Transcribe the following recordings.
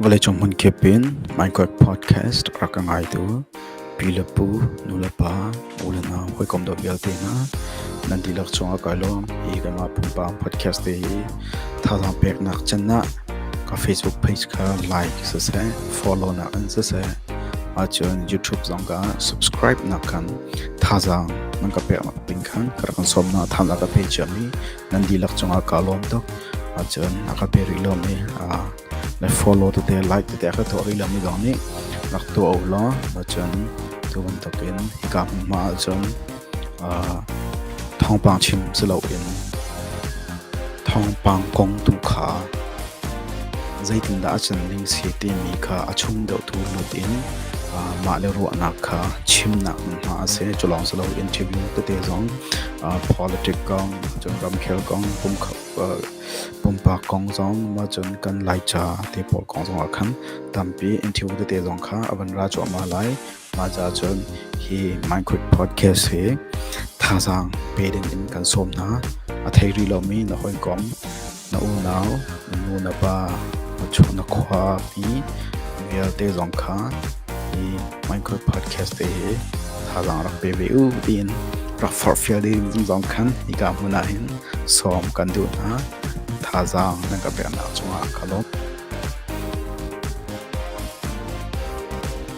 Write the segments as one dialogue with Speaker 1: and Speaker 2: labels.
Speaker 1: Vawleicung hmunkip in Minecraft podcast rak ka ngai tu pi le pu, nu le pa, u le nau, hawikom dawt vialte hna nan dihlak chungah kai lawm hi kanmah pumpak podcast te hi thazaang peknak chan ah ka Facebook page kha like siseh follow nak in siseh ahcun YouTube zong ka subscribe nak khan Thazaang nan ka pek nakding khan ka rak in sawm hna. Thazaang a ka pe ciami nan dihlak cungah kaa lawm tuk. Ahcun a ka pe rih lomi, aa le follow tete, like tete a ka tuah rih lomi zong nih rak tuah u law ahcun tu bantukin hika hmunhma ahcun aa thawngpang chim si loin thawngpang kong tu kha Zeitindah a can ding si timi kha a chung deuhtu lut in mahle ruahnak kha chimnak hmunhma a si. Cu lawng si loin ṭhibing tete zong politic kong, cun ramkhel kong, pumpak kong zong, cun kan Laica te pawl kong zong ah khan tampi in ṭhibu tete zong kha a van ra cuahmah lai. Mah caahcun hi Minecraft podcast hi thazaang pe dingin kan sawm hna. A thei rih lomi na hawikom, na unau, na nu na pa, na cu na khuapi vialte zong kha hi Minecraft podcast te hi thazaang rak pe ve u tiin rak forhfial ding zong khan hika hmun ah hin sawm kan duh hna. Thazaang na ka peknak cungah ka lawm.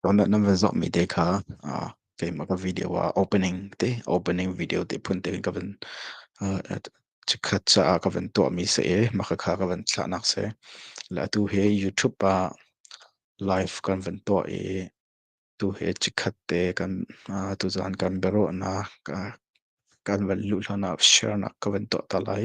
Speaker 1: Download nan van zoh mi te kha uh, keimah ka video ah opening te opening video te phun te in ka van uh, chikhat cha ka van tuah mi se e maka kha ka van thlah nak se la tu he YouTube pa live kan van tuah i tu he chikhat te kan uh, tu zan kan bero na ka kan van lu hlona share nak ka van tuah ta lai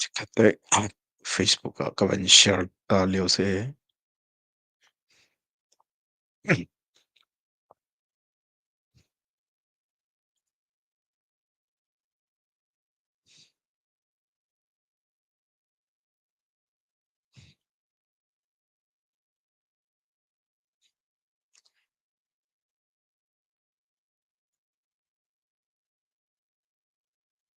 Speaker 1: Chikkhat te Facebook ah ka van share ta lio si.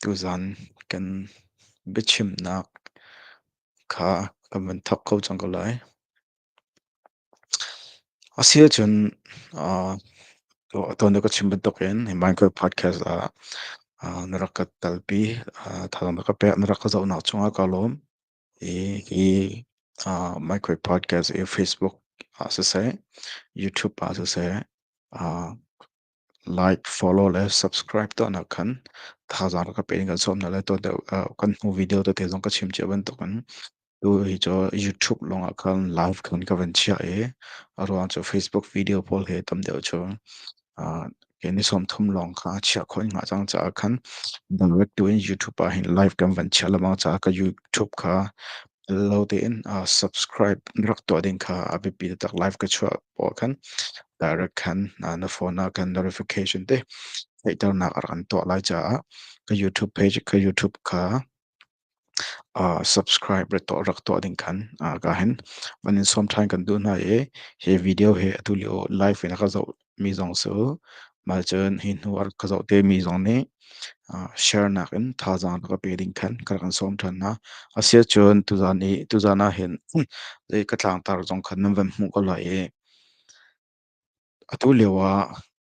Speaker 1: Tuzan kan biachimnak kha kan vun thawk ko cang ko lai. A si ahcun ah tuan ka chim bantukin hi Minecraft podcast ah ah na rak ka talpi ah thazaang na ka pek na rak ka zohnak cungah ka lawm. Hi hi, ah, Micro Podcast i Facebook ah siseh, YouTube ah siseh, ah, like, follow le subscribe tuahnak khan thazaang rak ka pe in kan sawm hna le tuah deuh, ah, kan hnu video tete zong ka chim cia bantukin tu hi cu YouTube lawngah khan live khan ka van chiah i, a ruang cu Facebook video pawl hi tam deuh cu Ke ni som thum lawng kha chia khoi nga cang caah khan direct tu in YouTube ah hin live kan van chia lamang caah ka YouTube kha lo tein subscribe rak tuah ding kha a biapi taktak live ka chuah paw khan direct khan na phone ah khan notification te theihternak a rak kan tuah lai caah ka YouTube page ka YouTube kha subscribe rat tuah rak tuah ding khan ka hen van in sawm ṭhan kan duh hna i hi video hi atu lio live in a ka zoh mi zong cu mal cun hi hnu a ka zoh te mi zong nih share nak in thazaang ka pe ding khan ka kan sawm ṭhan hna asia cun tuzan i tuzan ah hin zei ka tlangtar zong khan nan van hmuh ko lai i atu lio ah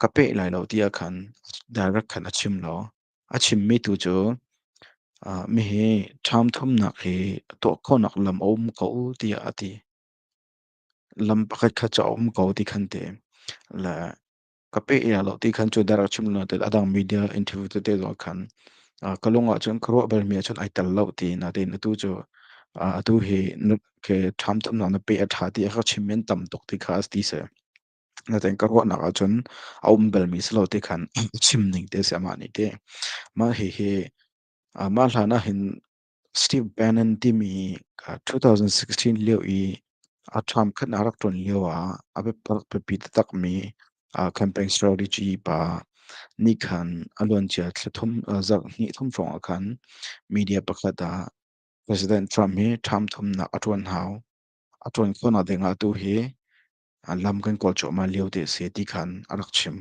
Speaker 1: ka peh lai lo tiah khan direct khan a chim lo. A chimmi tu cu uh, mi hi ṭham thumnak hi tuah khawhnak lam a um ko tiah a ti. Lam pakhat khat cu a um ko ti khan te. Le ka peh ila lo ti khan cu direct chim lo te a dang media interview te te zuah khan uh, ka lung ah cun ka ruah balmi ah cun ai tel lo ti na tin atu cu uh, atu hi na ke ṭham thumnak na peh a ṭha ti a ka chim men tam tuk ti kha a ti seh. Na tein ka ruahnak ahcun a um balmi si lo ti khan chim ning te si amah nih ti. Mah hihi ah mah hlan ahhin Steve Bannon timi ah 2016 lio i a term khat na rak ṭuan lio ah a biatak biapi taktakmi ah campaign strategy pa nih khan a luancia thla thum ah zarh hnih thum hrawng ah khan media pakhat ah President Trump hi term thumnak a ṭuan hau. A ṭuan khawhnak ding ah tu hi An lam kan kawl cuahmah liote a si ti khan a rak chim.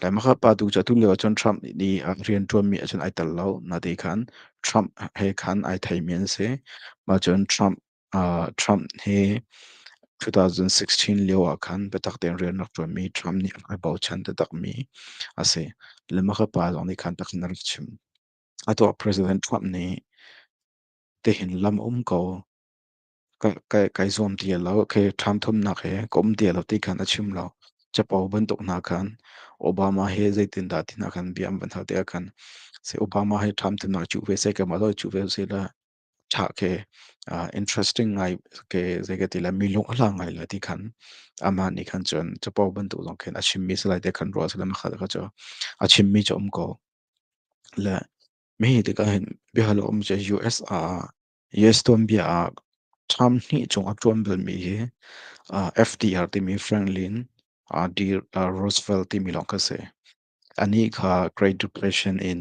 Speaker 1: Laimakha pa tu cu atu lio ahcun Trump nih a rianṭuanmi ahcun ai tel lo. Nate khan Trump he khan ai theimi an si. Mah cun Trump, ah Trump hi 2016 lio ah khan biatak tein rian rak ṭuanmi Trump nih ai bochan taktakmi a si. Laimakha pa zong nih khan takhin a rak chim. Atu ah President Trump nih tihin lam a um ko kai zuam ti a lo. Okay, ṭhanthumnak he ka um ti a lo ti khan a chim lo. Capo bantuk hna khan Obama he zeitindah tinah khan bia an van hal te ah khan say Obama he ṭhanthumnak cu ve sai kam alo cu ve sai la ṭha ke interesting ngai ke zei ka ti la mi lung hla ngai la ti khan ama nih khan cun capo bantuk zong khan a chim mi salai te khan ruah salam kha kha chu a chim mi chu um ko le mi tikah hin bihalo um che US a US tuanbia ah term hnih chung a ṭuan balmi hi uh, FDR timi Franklin uh, D. Uh, Roosevelt timi lawng kha si. Anih kha Great Depression in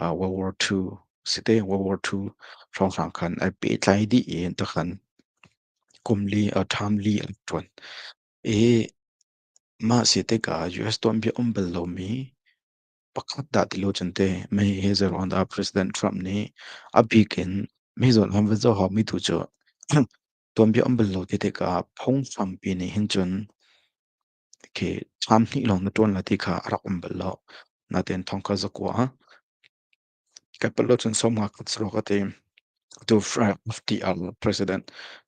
Speaker 1: uh, World War II si te World War II hrawnghrang khan ai pehtlai dih i takhan kum li uh, term li an ṭuan. I mah si tikah US tuanbia um bal lomi Pakhat dah ti lo cun teh mei hi zeiruang dah President Trump nih a bik in mei zawn ham ve zahawm mi tu cu tuanbia um bal lo te tikah phunghrampi nih hin cun khi thlam hnih lawng na ṭuan lai ti kha a rak um bal lo. Natein thongkhat zakua kai palh lo cun sawmnga khat saruak a ti. Tu FDR President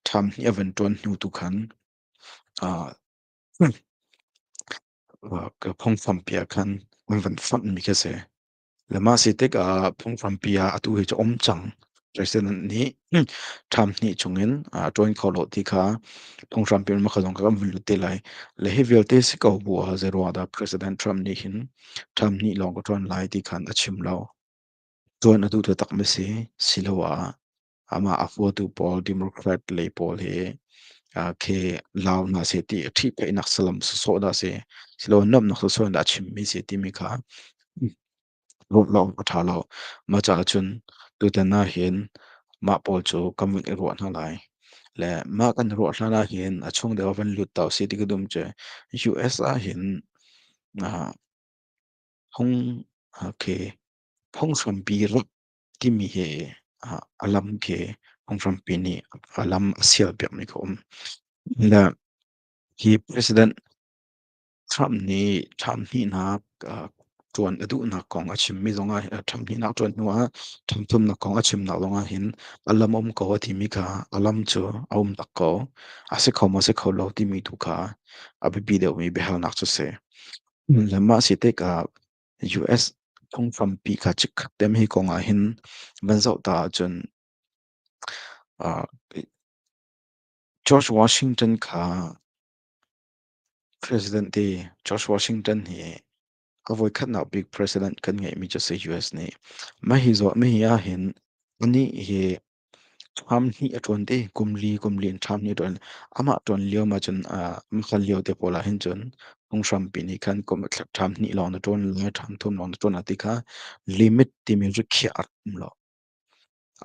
Speaker 1: thlam hnih a van ṭuan hnu tu khan ah Wow, ka phungfampi ah khan an van fonhmi khi a si. Le mah si tikah phungfampi ah atu hi cu a um cang. President nih term hnih chungin aa ṭuan kho lo ti kha phunghrampi in makha zong kha kan vun lut te lai. Le hi vialte si ko bu ah zeiruangahdah President Trump nih hin term hnih lawng ka ṭuan lai ti khan a chim lo. Ṭuan atu cu takmi si, siloah amah a huatu pawl Democrat lei pawl hi uh, khi lau na se ti ṭhi peinak salam soso da se silo namnak soso da chimmi se timi kha rot lo a ṭha lo ma ca cun tutan na hin mah pawl cu kan vin i ruah hna lai le mah kan ruah hna la hin a chung deuh van lut tau si ti dum che US ah hin uh, hong uh, khi phonghrompi rak timi hi uh, a lam khi Aung Trumpy nih a lam a sial piakmi kha um. Le hi President Trump nih Trump hnihnak uh, tuan a duhnak kong a chimmi zongah uh, Trump hnihnak tuan hnuah Trump thumnak kong a chimnak zongah hin a lam um ko a timi kha a lam cu a um tak ko a si kho maw si kho lo timi tu kha a biapi deuhmi biahalnak cu si. Le mah si tikah US phungfam pi kha chikkhat tem hi kong ah hin van zoh ta ahcun George Washington kha president di George Washington hi a voi khatnak big president kan ngeihmi cu si US nih mah hi zuah mi hi ah hin anih hi Ṭham hnih a ṭuan te. Kum li, kum li in ṭham hnih a ṭuan. Amah ṭuan lio ma cun, aa hmasa lio te pawl ahhin cun, phunghrampi nih khan kum ṭham hnih lawng na ṭuan law, ṭham thum lawng na ṭuan law ti kha limit timi cu khiah a rum lo.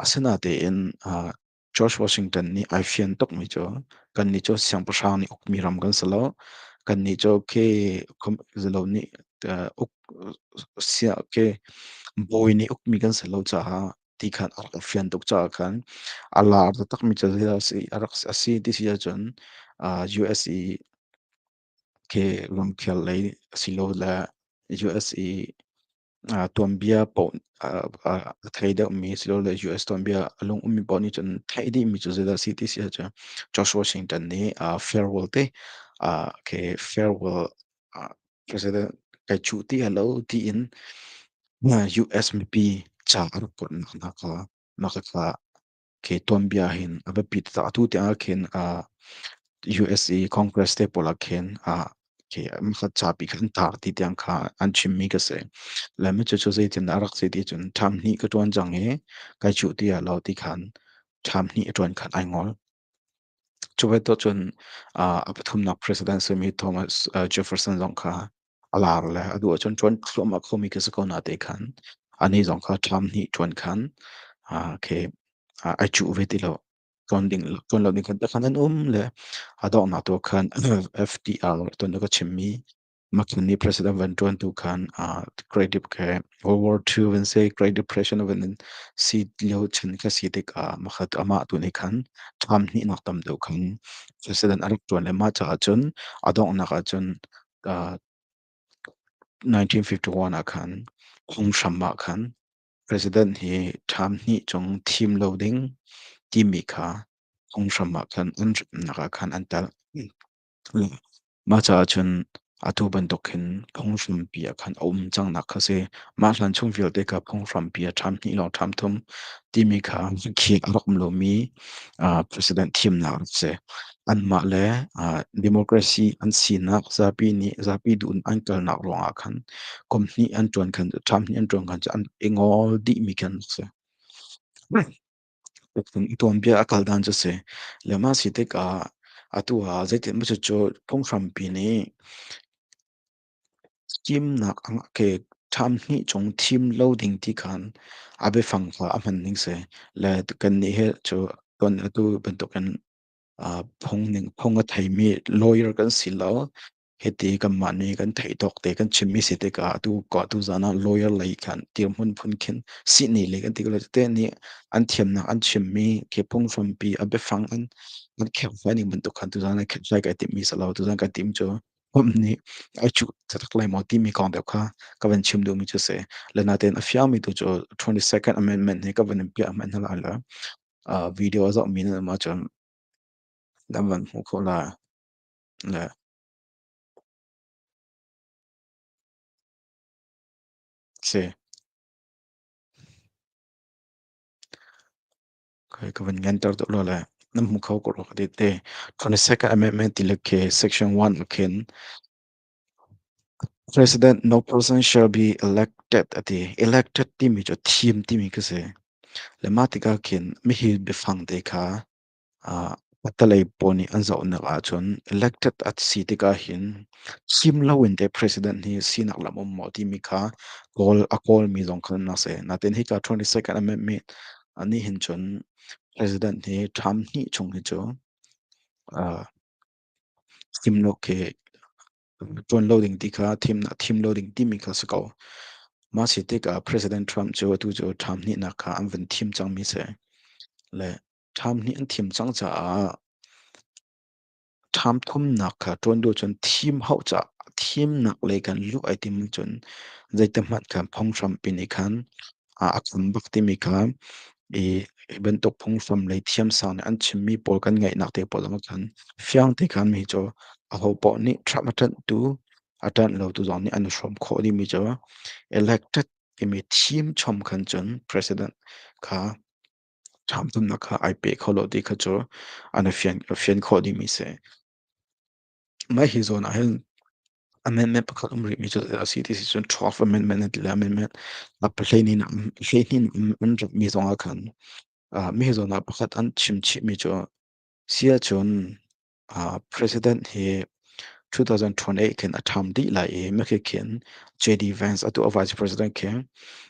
Speaker 1: Asinatein, ah George Washington nih ai fian tukmi cu, kannih cu siangpahrang nih ukmi ram kan si lo. Kannih cu okay, kum zalo nih, aa uk sia okay, bawi nih ukmi kan si lo caah ti khan a rak i fian tuk caah khan a lar taktakmi cu hi a si a rak a si ti si ahcun uh, USA ke ramkhel lei silo le USA uh, tuanbia paoh uh, uh, a thei deuhmi silo le US tuanbia a lung ummi paoh nih cun thei dihmi cu zeidah si ti si ahcun George Washington nih uh, farewell te uh, ke farewell President kai cu ti halo tiin US mipi ca a rak put nak na kha na kha ke tuan bia hin a biapi ta tu ti a khin USA Congress te pola khin ke ma kha cha pi khan tar ti tiang kha an chim mi ka se la me chu chu zei tin a rak se ti chun tham ni ka tuan jang e kai chu ti halo ti khan tham ni a tuan khan ai ngol Cu bantuk cun, ah a pathumnak president a simi Thomas, ah Jefferson zong kha a lar le a duh ahcun ṭuan thluahmah khomi khi a si ko na te khan, anih zong kha term hnih ṭuan khan, ah khi, ah ai cuh ve ti lo. Ṭuan ding ṭuan lo ding khan tikhan an um le a donghnak tu ah khan FDR tuan awk a chimmi Makhin nih president van ṭuan tu khan uh, Great Deep khe World War II van se Great Depression van in si lio chin kha si tik ah makhat amah tu nih khan tham hnih nak tam deuh khan president a rak ṭuan le mah caah cun a donghnak ah cun uh, 1951 ah khan phunghram ah khan president hi tham hnih chung thim lo ding timi kha phunghram ah khan unremnak ah khan an tal Mah caah cun atu bantuk hin phunghrampi ah khan a um cangnak kha si. Mah hlan chung vialte kha phunghrampi ah ṭham hnih lawng ṭham thum timi kha khi a rak um lomi ah president thimnak a si. Anmah le ah democracy an sinak zapi nih zapi duh in an kalnak ruangah khan kum hnih an ṭuan khan ṭham hnih an ṭuan khan cu an i ngol dihmi khan a si. Uktung i tuanbia a kal dan cu a si. Lehman si tikah atu ah zeitinhmaw cucu phunghrampi nih thimnak a ke ṭham hnih chung thim lo ding ti khan a biafang kha a hman ning si. Le kannih hi cu tuan atu bantukin, ah phung ning phung a theimi lawyer kan si lo. Hiti kanmah nih kan theih tawk te kan chimmi si tikah atu kua tu zan ah lawyer lei kan dirhmun phun khin sihni le kan ti ko te nih an thiamnak an chimmi ke phung hrampi a biafang an an kherhlai ning bantuk khan tu zan an kherhlai ka timmi salo tu zan ka tim cu pump nih ai chu thatak lai maw timi kong deuh kha ka van chim duhmi cu si lenaten a fiangmi tu cu 22nd amendment nih ka van in piah hman hala la video a zohmi na ma cun kan van hmu kho la Si. Kai ka vun ngan tar to lo le nam mu kho ko lo ka di te 22nd Amendment ti le ke section 1 khin President no person shall be elected ati elected timi chu theme timi ka si le ma tika khin mi hi biafang te kha Ah, patalei pawl nih an zohnak ahcun elected a si tikah hin thim loin teh president hi sinak lam um maw timi kha kawl a kawlmi zong kha nan si. Natin hika 22nd Amendment a nih hin cun president hi term hnih chung hi cu ah, thim lo khi ṭuan lo ding ti kha thimnak thim lo ding timi kha si ko. Mah si tikah President Trump cu atu cu term hnihnak kha an vun thim cangmi si. Le Ṭham nih an thim cang caah ṭham thumnak kha ṭuan duh cun thim hau ca thimnak lei kan luh ai tim cun zeitihmanh khan phunghram pin i khan a a kham bak timi kha i hi bantuk phunghram lei thiamsang nih an chimmi pawl kan ngaihnak te pawl zong khan fiang te khan mi cu aho paoh nih ṭham a ṭanhtu a ṭanh lotu zong nih an i hrawm khawh dimi cu elected timi thim chom khan cun president kha ṭhamthumnak kha ai pe kho lo ti kha cu a na fian fian khawh dingmi si. Mah hi zawn ahhin amendment pakhat um rihmi cu a si ti si cun Twelfth Amendment an ti le amendment na hleihnih na hleihnih in an ratmi zong ah khan ah mi zawn ah pakhat an chim chihmi cu siachun Uh, president hi 2028 khin a term dih lai i mekhi khin JD Vance atu a vice president khi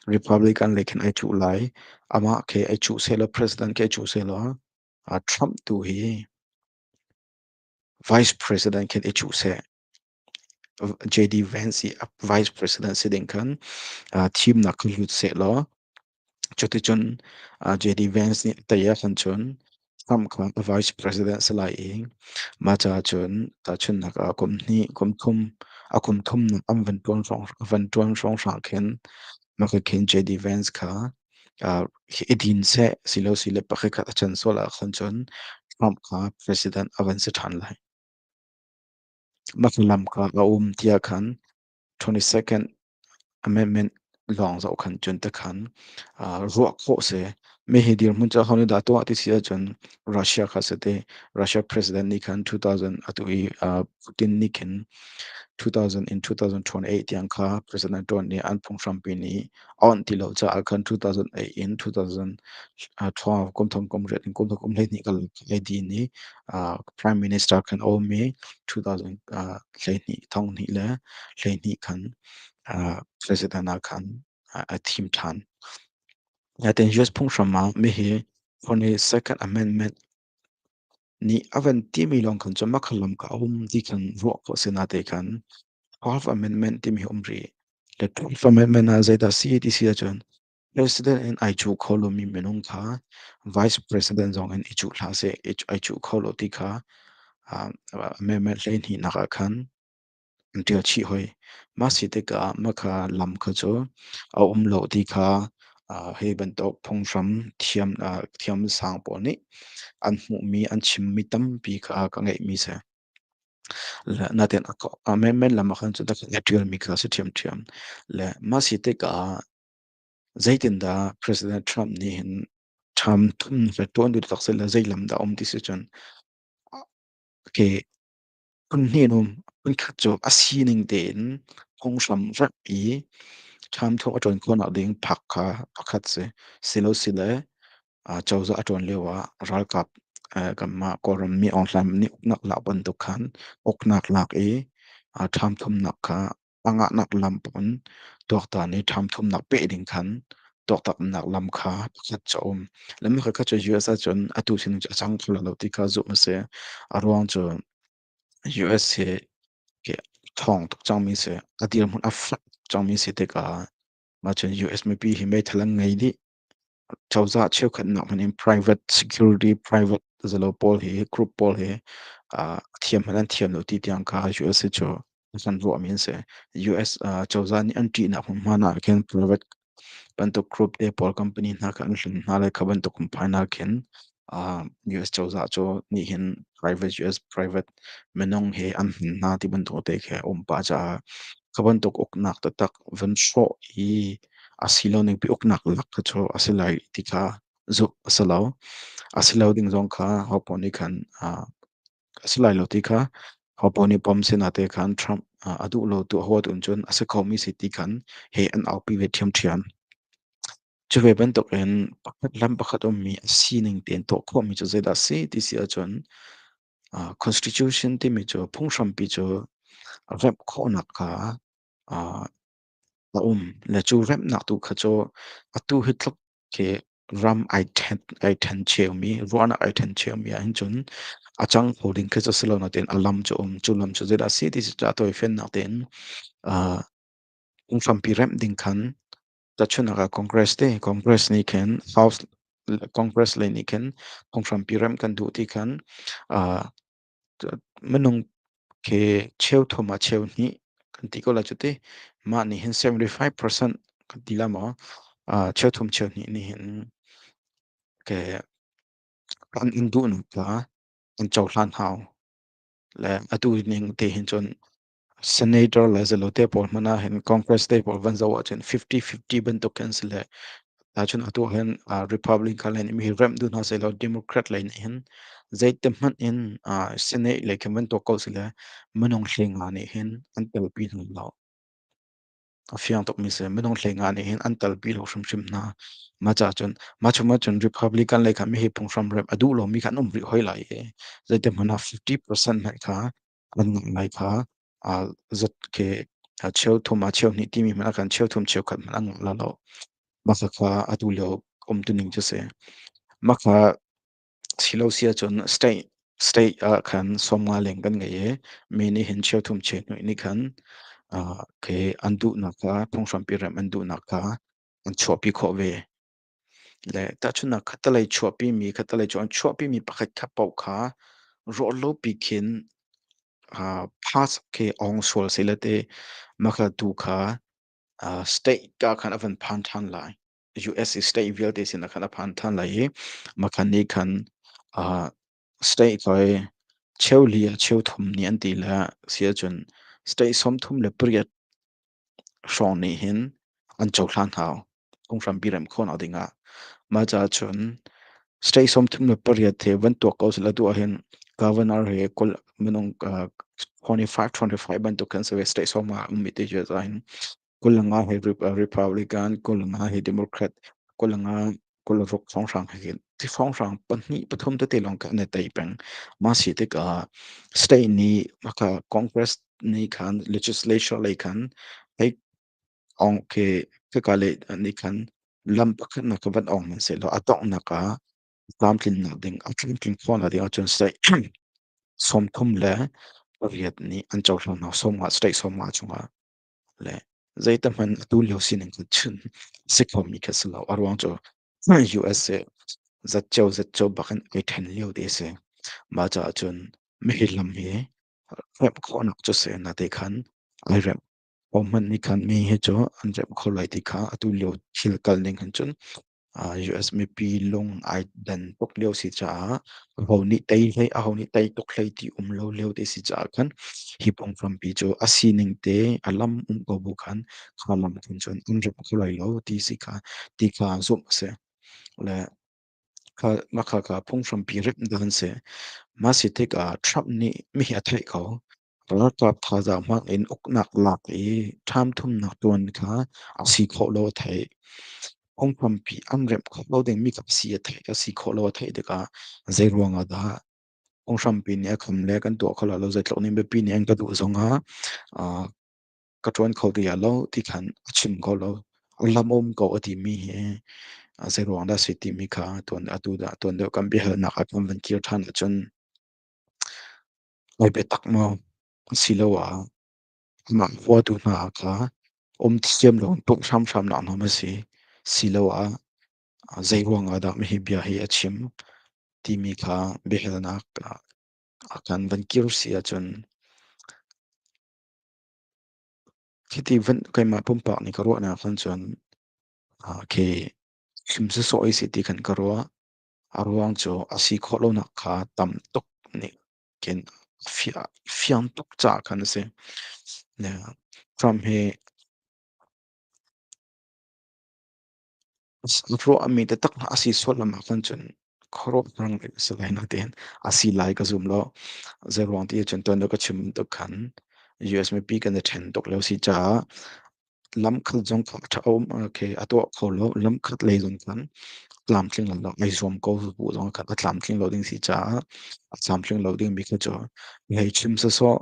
Speaker 1: Republican le khin ai chu lai ama khi ai chu selo president khi ai chu selo uh, Trump tu hi vice president khin i chu se JD Vance hi a vice president si ding khan uh, thimnak hmu sehlaw cuticun uh, JD Vance nih taya khan chun Trump kha vice president si lai i ma ca cun tahchunnak ah kum hnih kum thum a kum thum nak an van tuan hrong van tuan hrong hrang khin maka khin JD Vance kha uh, i din se silo sile pakhat khat a chan sola khan chun Trump kha president avan si than lai Hnangam kak a um tiah khan twenty second amendment lawng zoh khan cun te khan ruah khawh si. Hihi dirhmun cu ahonih dah tuah ti si ahcun Russia kha si ti. Russia president nih khan 2000 atu i Putin nih khin 2000 in 2028 tiang kha president tuan nih an phunghrampi nih a awnh ti lo caah khan 2008 in 2012 kumthum kum riat in kumthum kum hleihnih kal leidin i prime minister khan awmi 2000 hleihnih thonghnih le hleihnih khan president ah khan a thim ṭhan. Natin US phunghram ah mi hi on a second amendment Nih a van timi lawng khan cu makhaal lam ka um ti khan ruah khawh si na te khan 12 Amendment timi hi um rih. Le 12 Amendment ah zeidah si ti si ahcun President in ai cuh kho lomi minung kha Vice President zong in i cuh hlah seh, i ai cuh kho lo ti kha Amendment hleihnih nak ah khan an ṭial chih hoi. Mah si tikah mah kha lam kha cu a um lo ti kha uh, hi bantuk phunghram thiam, uh, thiam sang pawl nih an hmuhmi, an chimmi tampi kha ka ngeihmi si. Le natin a ko, a men men lam ahkhan cu da ka ṭialmi kha si ṭhiamṭhiam. Le mah si tikah zeitindah President Trump nih hin ṭham ṭun le ṭuan duh taksit le zei lam dah a um ti si cun ke Phun hninhum, phun khat cu a sining tein phunghram rak i ṭhamthawh a ṭuan khawhnak ding park kha pakhat si. Silosile, ah cozah a ṭuan lioah ralkap, eh, kanmah Kawlrammi Aung Hlaim nih uknak lak bantuk khan uknak lak i, ah ṭhamthumnak kha a ngahnak lam pawn tuaktan i ṭhamthumnak peh ding khan tuaktannak lam kha pakhat cu a um. Lam pakhatkhat cu US ahcun atu sining cu a cang kho lo ti kha zumh a si. A ruang cu US hi ke thawng tuk cangmi si, a dirhmun a fak cangmi si tikah mah cun US mipi hi meithal an ngei dih. Cozah cheukhat nak hmanh in private security, private zalaw pawl hi, group pawl hi ah thiam hmanh an thiam lo ti tiang kha US hi cu kan ruahmi an si. US ah cozah nih an ṭihnak hmunhma nak ah khin private bantuk group te pawl company hna kha an hlen hna le kha bantuk in phainak khin ah US cozah cu nih hin private US private minung hi an hnin hna ti bantuk te khi a um pah caah kha bantuk uknak taktak van hrawh i a si lo ning pi uknak lak cu a si lai ti kha zuk a si lo a si lo ding zong kha hopo nih khan ah a si lai lo ti kha hopo nih pom sinah te khan Trump ah a duh lo tu a huat un cun a si khomi si ti khan he an aupi ve ṭhiamṭhiam Cu ve bantukin pakhat lam pakhat ummi a sining tein tuah khawhmi cu zeidah a si ti si ahcun, ah Constitution timi cu phunghrampi cu remh khawhnak kha, ah a um. Le cu remhnak tu kha cu atu hi tluk khi ram ai ṭhen ai ṭhen ciomi, ruahnak ai ṭhen ciomi ahhin cun a cang kho ding khi cu si lo nain a lam cu a um. Cu lam cu zeidah a si ti cu ṭah tawi fiannak tein, ah phunghrampi remh ding khan Tahchunhnak ah Congress te Congress nih khin House Congress lei nih khin phunghrampi remh kan duh ti khan uh, minung ke cheu thum a cheu hnih kan ti ko la cuti mah nih hin 75% kan ti la maw uh, cheu thum cheu hnih nih hin ke an in duh nu ta an chohlan hau le atu ning te hin cun Senator le zalote pawl hmanh ah hin Congress te pawl van zoh ahcun 50-50 bantuk an si le tahchun atu hin uh, Republican le nih mi hi remh duh hna seh law Democrat le nih hin zeite hmanh in uh, Senate le khin bantuk ko si le minung thlenga nih hin an telpi hna lo. A fiang tukmi si minung thlenga nih hin an telpi lo hrimhrim hna. Ma cha cun ma chuma cun Republican le kha mi hi phunghram rem a duh lomi kha an um rih hoi lai i zeite hmanh ah 50% hna kha kan ngai kha a zot ke a cheu thum a cheu hnih timi hmanh a kan cheu thum cheu khat hmanh an la lo maka kha atu lio um tuning cu si maka silo si ahcun state state ah khan somnga leng kan ngei i mi nih hin cheu thum cheu hnu ni khan ke an duhnak kha phunghram pi rem an duhnak kha an chuahpi khawh ve Le tahchunhnak khattelei chuahpimi khattelei cu an chuahpimi pakhat khat paoh kha ruahlopi khin uh, pass khi awng sual si le te makla tu kha uh, state ka khan avan phan than lai US i state vialte sin khan a phan than lai i makhan ni khan uh, state loi cheu li cheu thum ni an ti le sia chun state som thum le pariat hrawng nih hin an cohlan hau. Kong hrampi rem khawh nak ding ah. Mah caah cun state sawmthum le pariat he van tuak ko sila tu ah hin governor he kul minung uh, 25, 25 bantuk kan se state sawm ah um iti je za hin. Kul nga he Republican, kul nga he Democrat, kul nga kulruk songhrang hakin ti songhrang pahnih pathum tete lawng ka ne tai peng ma si tik ah state ni maka congress ni khan legislature lei khan ai ong ke ka ka le ni khan lam pakhat na ka van ong man se lo adong na ka lam tlin na ding a tling tling khon la ding achun state som thum le riat ni an chau thlo na som nga state som nga chunga le zeitikhmanh atulio sining cu chun a si khomi khi a si lo. A ruang cu USA zatceo zatceo bakin a i ṭhen lio ti a si. Mah caah cun mihi lam hi remh khawhnak cu a si. Nateih khan ai remh. Aw hmanh nih khan mihi cu an remh kho lai ti kha atulio thil kal ning hin cun US mipi lung ai dan tuk lio si caah aho nih tei hlei aho nih tei tuk hlei ti um lo lio te si caah khan hi pong frampi cu a sining te a lam um ko bu khan kha lam thun cun um rep kho lai lo ti si kha ti kha zum se le kha ma kha ka phung frampi rep dan se ma si tik ah Trump nih mi hi a theih ko Ralkap thazaang hmang in uknak lak i ṭhamthumnak tuan kha a si khawh lo a theih. Phungkhampi an remh kho lo dingmi kap si a theih a si khawh lo a theih tikah zeiruang ah dah phunghrampi nih a kham le kan tuah kho lo lo zeitluk nih biapi nih an ka duh zong ah ah ka ṭuan kho ti hlah lo ti khan a chim ko lo. Lamum ko a timi hi a zeiruang dah a si timi kha tuan atu dah tuan deuh kan biahalnak ah kan van kir ṭhan ahcun Ngai biatak maw asiloah mah huatu hna kha um thiam loin pumh hramhram nak nam asi. Siloah zeiruang ahdah hihi bia hi a chim timi kha biahalnak akan van kir si ahcun khiti vun keimah pumpak nih ka ruahnak ahcun cun khi chim sawsawh isi ti kan ka ruah. A ruang cu a si khawh lonak kha tam tuk nih khin a fiang tuk caah khan a si. Trump hi ruahmi taktak a si sullam ah khan cun khuaruah rang a si lai na tiin a si lai ka zum lo. Zei ruang ti cun tuan ka chim tuk khan US mipi kan i ṭhen tuk lo si caah lamkhat zong kha ṭha um khe a tuah kho lo. Lamkhat lei zong khan tlamtling lo ding ai zuam ko bu zong khan a tlamtling lo ding si caah a tlamtling lo ding mi kha cu ngaichim sawsawh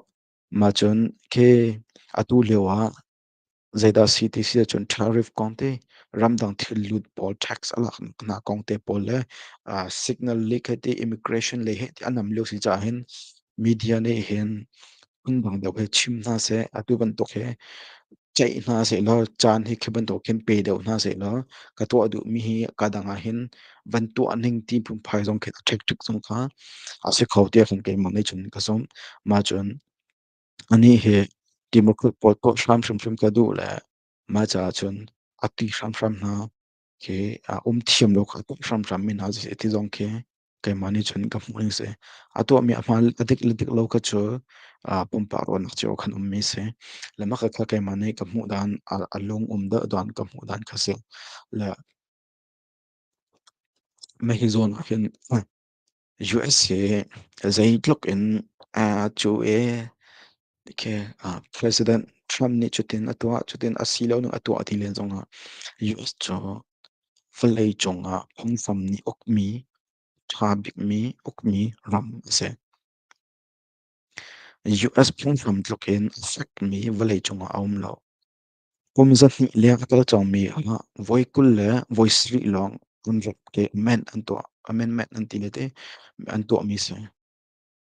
Speaker 1: ma cun khe atu lio ah zeidah si ti si ahcun tariff kong te ramdang thil lut pawl tax a lak hna kong te pawl le signal leak heh ti immigration le heh ti a nam lio si caah hin media nih hin phundang deuh hi chim hna seh, atu bantuk hi ceih hna sehlaw, caan hi khi bantuk khin pe deuh hna sehlaw, ka tuah duhmi hi ka dang ahhin van tuah ning ti phunphai zong khi a ṭhekṭhek zong kha a si kho tiah kan keimah nih cun ka zumh. Mah cun anih hi democrat pawl tuah hram hrimhrim ka duh le mah caah cun a ṭih hramhram hna khi a um thiam lo kha tuah hramhram mi hna siseh ti zong khi keimah nih cun ka hmuh ning si. A tuahmi a hmaan a dik le dik lo kha cu ah pumpak ruahnak cio khan ummi si. Le makha kha keimah nih ka hmuh dan a, a lung um deuh dan ka hmuh dan kha si. Le mah hi zawn ah hin US hi zeitluk in a cu i President Trump nih cutin a tuah, cutin asiloning a tuah ti len zongah US cu vawlei cungah phunghram nih ukmi, tha bikmi ukmi ram a si. US phunghram tlukin a fekmi vawlei cungah a um lo. Kum zahnih leng a kal cangmi ah voi kul le voi sarih lawng an rep ke amendment an tuah, amendment an ti le ti an tuahmi a si.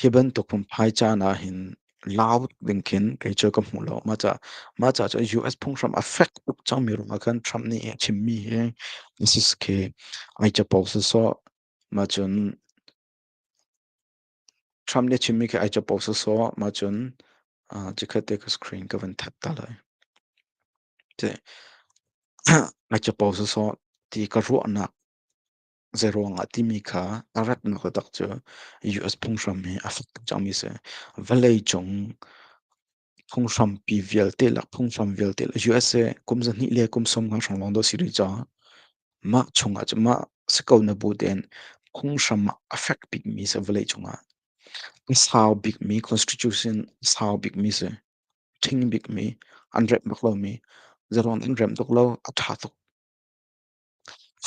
Speaker 1: Hi bantuk phungphai caan ahhin lau ding khin kei cu ka hmuh lo. Mah ca, mah ca cu US phunghram a fek tuk cangmi ruang ah khan Trump nih a chimmi hi this is khi ai capo sawsawh. Mah cun Trump nih a chimmi khi ai capo sawsawh. Mah cun ah chikkhat te ka screen ka van that ta lai. Ti ai capo sawsawh ti ka ruahnak Zeiruangah timi kha a ratnak taktak cu US phunghram hi a fak tuk cangmi si. Vawleicung phunghrampi vialte le phunghram vialte le USA kum zahnih le kum sawm nga hrang lawng dawh si rih caah mah chungah cun mah si ko na bu tein phunghram ah a fek bikmi si vawleicung ah. A sau bikmi constitution sau bikmi si thing bikmi an rep bak lomi zeiruang in rem tuk lo a tha tuk.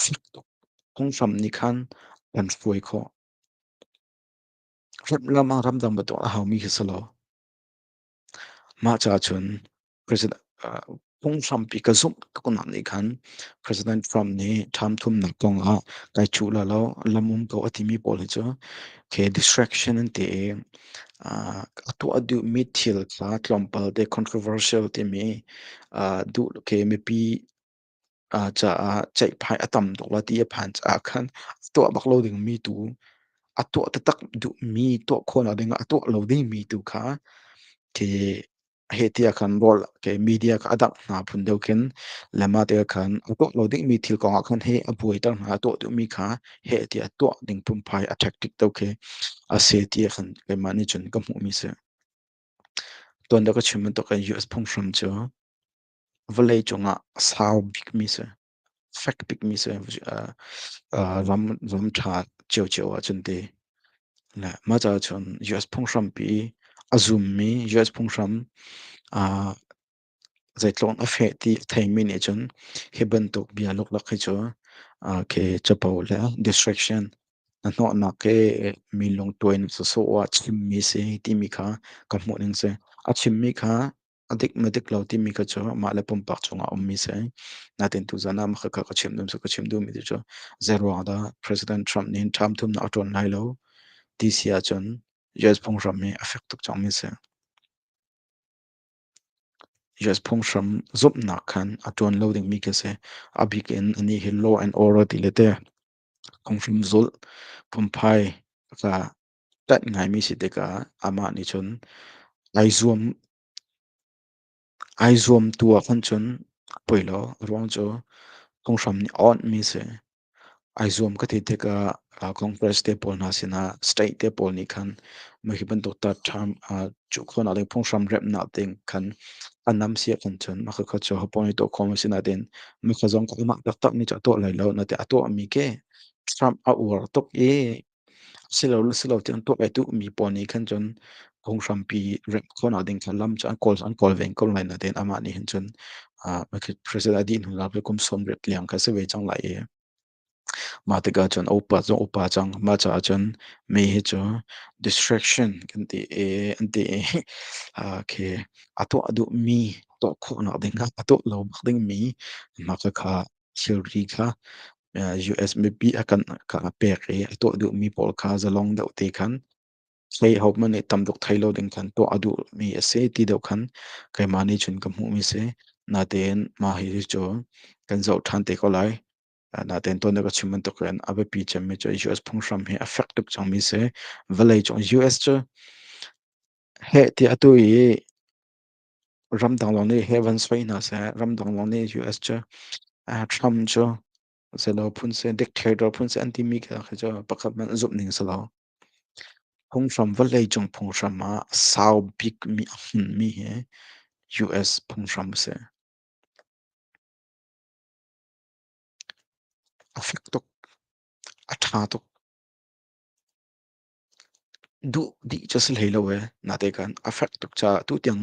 Speaker 1: fek tuk. Phunghram nih khan an hruai khawh. Ram ah ramdang bantuk a haumi khi si lo. Mah caah cun President phunghram pi ka zumh ka kunak nih khan President Trump nih ṭham thumnak kong ah kai cuh la lo, lam um ko a timi pawl hi cu okay distraction an ti i a tuah duhmi thil kha tlawmpal te controversial timi duh okay mipi caah ceihphai a tam tuk la ti a phan caah khan a tuah bak lo dingmi tu, a tuah taktak duhmi, tuah khawhnak dingah a tuah lo dingmi tu kha khi hi ti ah khan rawl ke media kha a dangh hna phun deuh khin lema te ah khan a tuah lo dingmi thil kong ah khan hi a buaiter hna, a tuah duhmi kha hi ti ah tuah ding phunphai a tactic deuh khi a si ti ah khan keimah nih cun ka hmuhmi a si. Tuan da ka chim bantuk in US phunghram cu Vawlei cungah sau bikmi si, fek bikmi si, uh, uh, ram ram ṭha cio-cio ahcun ti. Le mah caah cun US phunghrampi a zummi US phunghram uh, zeitluk in a feh ti a theimi nih cun hi bantuk bia luklak hi cu uh, khi capo le distraction na hnawhnak i mi lungtuin sawsawh ah chimmi si timi kha ka hmuh ning si. A chimmi kha A dik na dik lo timi kha cu mah le pumpak chungah a ummi si ai. Natin tuzan ah makha kha ka chim dum su ka chim dum mi ti cu zeiruang dah President Trump nin ṭham thumnak a ṭuan lai lo ti si ahcun US phunghram hi a fek tuk cang mi si. US phunghram zumhnak khan a ṭuan lo dingmi khi si a bik in anih hi law and order ti le te phunghram zulh phunphai ka Ṭanh ngaimi si tikah amah nih cun ai zuam ai zuam tu ahkhan cun poi law ruang cu kong nih a awnhmi a si. Ai zuam ka ti tikah ah Congress te pawl hna sinah state te pawl nih khan mah hi bantuk ta term ah cuh khawhnak le phunghram remhnak ding khan a nam si ahkhan cun mah kha cu hapong i tuah khawh a si nain mah kha zong amah taktak nih cun a tuah lai lo nain a tuahmi khi Trump a uar tuk i Silo silo cun tuah ve duhmi pawl nih khan cun phunghrampi remh khawhnak ding kha lam cu an kawl an kawl ve ko lai. Natein amah nih hin cun ah President a dih hnuah kum sawmriat leng kha a si ve cang lai i mah tikah cun a upa zong a upa cang. Mah caah cun mei hi cu distraction kan ti i an ti i ah khi a tuah duhmi tuah khawhnak ding a tuah lo bak dingmi hna kha kha thilri kha US mipi a kan ka pek i a tuah duhmi pawl kha zalong deuh te khan thei hohmanh nih tam tuk thei lo ding khan tuah a duhmi a si ti deuh khan keimah nih cun ka hmuhmi si natein mah hi cu kan zoh ṭhan te ko lai natein tuan ka chim bantuk in a biapi cemmi cu US phunghram hi a fek tuk cangmi si vawlei cung US cu heh ti atu i Ramdang lawng nih heaven soi hna seh, ramdang lawng nih US cu Trump cu selaw phun si dictator phun si an timi khi khi cu pakhat hmanh zumh ning si lo. Phunghram vawlei cung phunghram ah sau bikmi a hmunmi hi US phunghram a si. A fek tuk, a tha tuk. Duh dih cu a si hlei lo ee. Natekan a fek tuk caah tutiang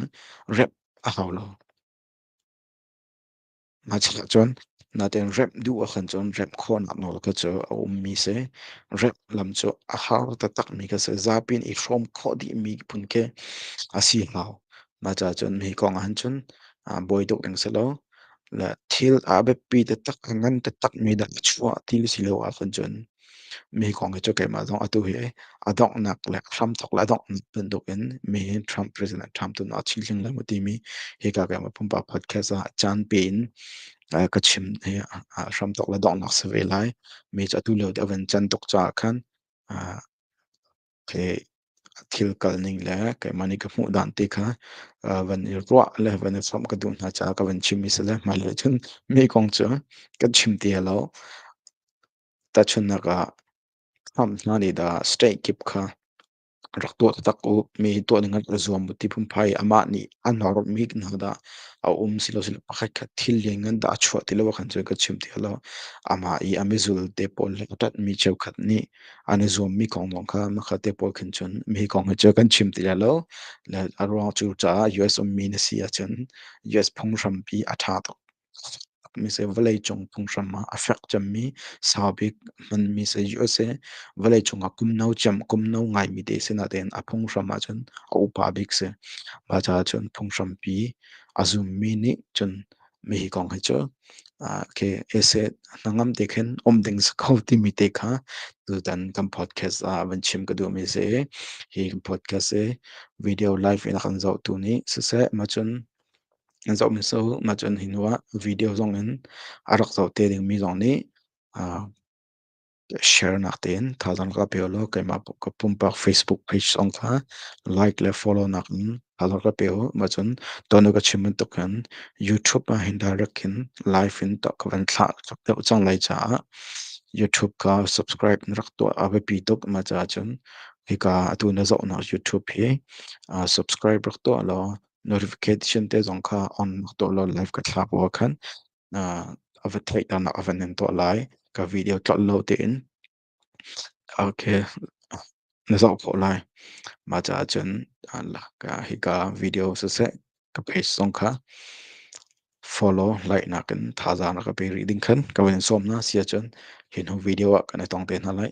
Speaker 1: remh a hau lo. Mah caah cun natein remh duh ahkhan cun remh khawhnak nawl kha cu a ummi a si. Remh lam cu a har taktakmi kha a si. Zapi in i hrawm khawh dihmi phun khi a si hau. Mah caah cun hi kong ahhin cun ah buai tuk ding si lo. Le thil a biapi taktak, a ngan taktakmi dah a chuah ti le si lo ahkhan cun Mi kong hi cu keimah zong atu hi a donghnak le hramthawk le a donghnak bantukin mi hi Trump President Trump tu nih a chimhling lai maw timi hika keimah pumpak podcast ah caan pe in uh, ka chim hi uh, hramthawk le donghnak si ve lai. Mi cu atu lio a van can tuk caah khan uh, khi thil kal ning le keimah nih ka hmuh dan te kha uh, van i ruah le van i samh ka duh hna caah ka van chim i si le hmailei cun mi kong cu kan chim te lo. Tahchunhnak ah, khamh hna nih dah state kip kha rak tuah taktak u. Mi tuah ningin a zuam u ti phunphai. Amah nih an hormi hna dah a um silosile pakhatkhat thil lianngan dah a chuah ti lo ah khan cun kan chim ti hlah law, amah i a mizulte pawl le a ṭanhmi cheukhat nih an i zuammi kongdong kha makhatte pawl khin cun mi kong hi cu kan chim ti hlah law, le a ruang cu caah US ummi na si ahcun US phunghrampi a ṭha tuk. Mise vawleicung phunghram ah a fek cemmi saubik hmanmi si u sih. Vawleicung ah kum no cem, kum no ngaimi te sinah tein a phunghram ahcun a upa bik si. Mah cun phunghrampi a zummi nih cun mihi kong hi cu okay ese hnangam te khin um ding si ko timi te kha tutan kan podcast ah van chim ka duhmi si. Hi podcast i video live in a kan zohtu nih siseh, mah cun Zoh miso mah cu an hi hnuah video zong in a rak zoh te dingmi zong nih ah sharenak tein thazaang ka pe ulaw keimah ka pumpak Facebook page zong kha like le follow nakin thazaang ka pe u. Mah cun tuan u ka chim bantuk khin YouTube ah hin direct hin live in tuah ka van thlah deuh cang lai caah YouTube ka subscribe na rak tuah a biapi tuk. Mah caah cun hika atu na zohnak YouTube hi ah subscribe rak tuah law Notification te zong kha on mak tuah law live ka thlak bua khan a va theih tanak a van in tuah lai. Ka video tlolh lo tiin okay na zoh khawh lai. Mah caah cun hika video siseh ka page zong kha follow like nakin thazaang na ka pe rih ding khan ka van in sawm hna siah cun hi hnu video ah kan i tong te hna lai.